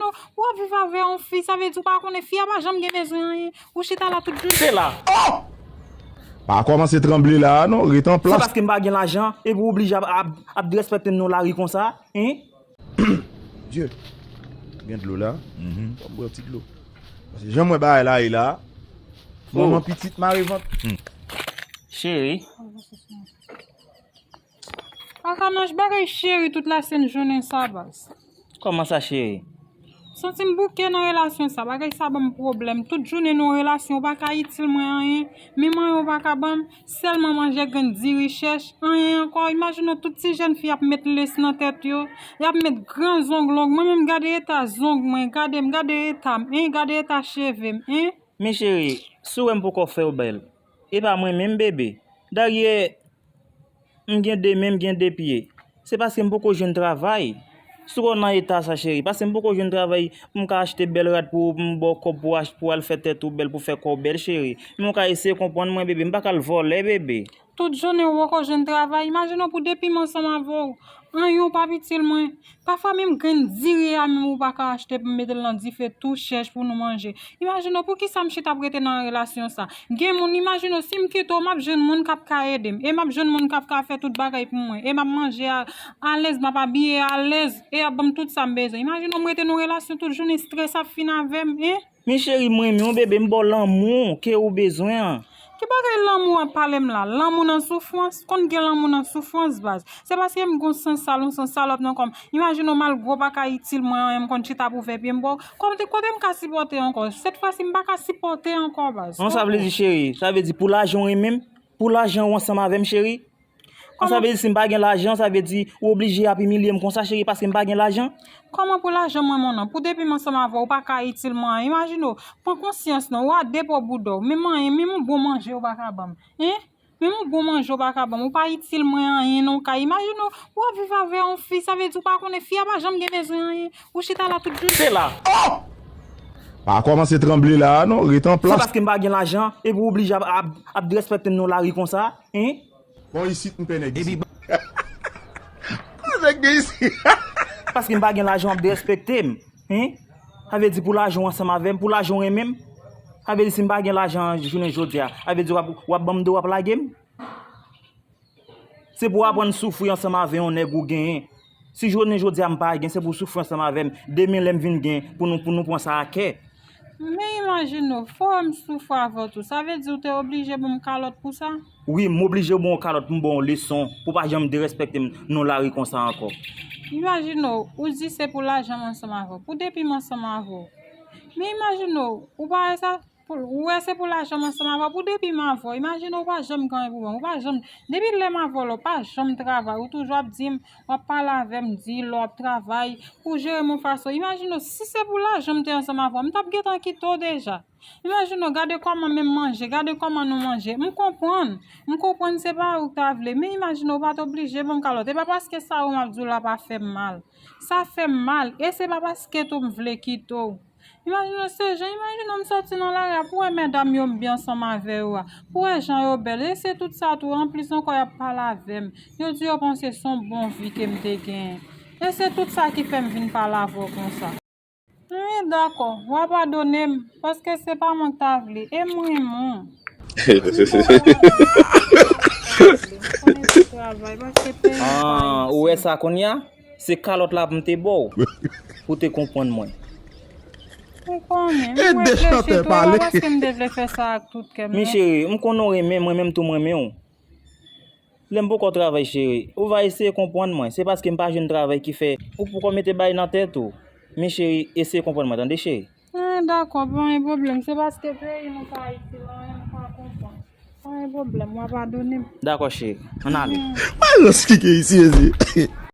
Yo, ou ap viv avè yon fi, sa vle di ou pa konnen fi a pa janm gen bezwen anyen, ou chita la tout jounen. Se la. Oh! Pa kòmanse tranble la a non, ret an plas. Se paske m pa gen lajan epi ou oblije ap ap drèspèkte m nan lari konsa, hein? Dye! Gen dlo la, fò m bwè yon ti dlo. Paske jan m wè bagay la ye la a, manman pitit mare vant. Cheri. Akanaj bagay cheri tout la sen jounen sa baz. Koman sa cheri? Santim bouke nan relasyon sa bagay sa banm pwoblèm tout jounen nan yon relasyon ou paka itil mwen anyen menm anyen ou paka banm sèlman manje grenn diri chèch anyen ankò imajine w tout ti jèn fi ap met les nan tèt yo yap met gran zong long mwen menm gade eta zong mwen gadem gade etam en gade eta chevem en. Men cheri si w wèm poko fèw bèl epa mwen menm bebe Daryèè. M gen 2 men m gen 2 pye Se paske m poko jwenn travay Si w nan eta sa cheri Paske m poko jwenn travay Pou m ka achte bèl rad pou ou Pou m ba w kòb pou w pou w al fè tèt ou bèl Pou w fè kò w bèl cheri Men w ka eseye konprann mwen bebe M pa ka al vòlè bebe Tout jounen ou poko jwenn travay Imajine w pou depi m ansanm avè w Anyen w pap itil mwen Pafwa menm grenn diri a menm ou pa ka achte pou mete l nan dife tou chèch pou nou manje. Imajine w pou kisa msye t ap rete nan yon relasyon sa. Gen moun, imajine w si m kite w m ap jwenn moun k ap ka ede m e m ap jwenn moun k ap ka fè tout bagay pou mwen e m ap manje alèz, m ap abiye alèz e y ap ban m tout sa m bezwen. Imajine w m rete nan yon relasyon tout jounen strès ap fin avè m, hein? Men cheri m renmen w bebe m baw lanmou ke ou bezwen an. Ki bagay lanmou wap palem la lanmou nan soufrans konn gen lanmou nan soufrans baz se paskem gon san sal yon san salòp nan kòm imajine w malgre w paka itil mwen anyen m konn chita pou vè pyem baw kote kotem ka sipòte ankò sèt fwasi m paka sipòte ankò baz. An sa vle di cheri sa vle di pou lajan w renmenm pou lajan ou ansanm avèm cheri. Kon sa vle di si m pa gen lajan sa vle di ou oblije ap imilye m konsa cheri paske m pa gen lajan? Kòman pou lajan mwen mon an? Pou depi m ansanm avè w ou pa ka itil mwen an imajine w pran konsyans non ou a de po bouda w men manyen menm yon bon manje ou pa ka ban m hein menm yon bon manje ou pa ka ban m ou pa itil mwen anyen nan yon kay imajine w ou ap viv avè yon fi sa vle di ou pa konnen fi a pa janm gen bezwen anyen ou chita la tout jounen la. Oh! Pa kòmanse tranble la a non ret an plas. Se paske m pa gen lajan epi ou oblije ap ap derespèkte m nan lari konsa? Hein? Bon isit m pè nèg isit. Bon nèg gen isit. Paske m pa gen lajan wap derespekte m. Hein? Sa vle di pou lajan w ansanm avè m, pou lajan w renmen m? Sa vle di si m pa gen lajan an jounen jodi a, sa vle di wap ban m do wap lage m? Se pou w aprann soufri ansanm avè yon nèg ou genyen. Si jounen jodi a m pa gen, se pou w soufri ansanm avè m. Demen lè m vin gen, pou nou pou nou pran sa a kè. Men imajine w, fò m soufri avè w tou. Sa vle di w te oblije ban m kalòt pou sa? Wi, m oblije ban w kalòt pou m ban w leson, pou w pa janm derèspèkte m nan lari konsa ankò. Imajine w, ou di se pou lajan m ansanm avè w, pou depi m ansanm avè w. Men imajine w, ou pa wè sa? Ou wè se pou lajanm ansanm avèw pou depi m avèw imajine ou pa janm gen anyen pou banm ou pa janm depi lèm avèw la ou pa janm travay ou toujou ap dim wap pale avèm di lè wap travay ou jerem yon fason imajine si se pou lajan m te ansanm avèw m tap gentan kite w deja imajine gade kòman menm manje gade kòman nou manje m konprann m konprann se pa ou ta vle men imajine ou pat oblije banm kalòt e pa paske sa ou map diw la pa fèm mal sa fèm mal e se pa paske tou m vle kite w. Imajine se jan, imajine w m soti nan lari a pou wè medam yo m byen ansanm avè yo a, pou wè jan yo bèl, e se tout sa tou, anplis ankò y ap pale avè m, yo di yo panse s on bon vi ke m te genyen, e se tout sa ki fè m vin pale avè w konsa. Wi, dakò, w a padone m, paske se pa mwen k ta vle, e m renmen w. Wi, bon bagay, m renmen w, m pa vle, m konnen se travay, paske peyi m pa Ayiti. An, ou wè sa kounya? Se kalòt la pou m te ba w pou w te konprann mwen. Ou konnen, m reflechi twò la paske m te vle fè sa ak tout kè m. Mi cheri, m konnen w renmen mwen menm tou m renmen w. Lè m poko travay cheri, ou va eseye konprann mwen. Se paske m pa jwenn travay ki fè ou poko mete bagay nan tèt ou. Mi cheri, eseye konprann mwen tande cheri. An dakò, pa gen pwoblèm. Se paske peyi nou pa itil anyen m pa konprann. Pa gen pwoblèm, w a padone m. Dakò cheri, an n ale. Malòs ki gen isi mezye.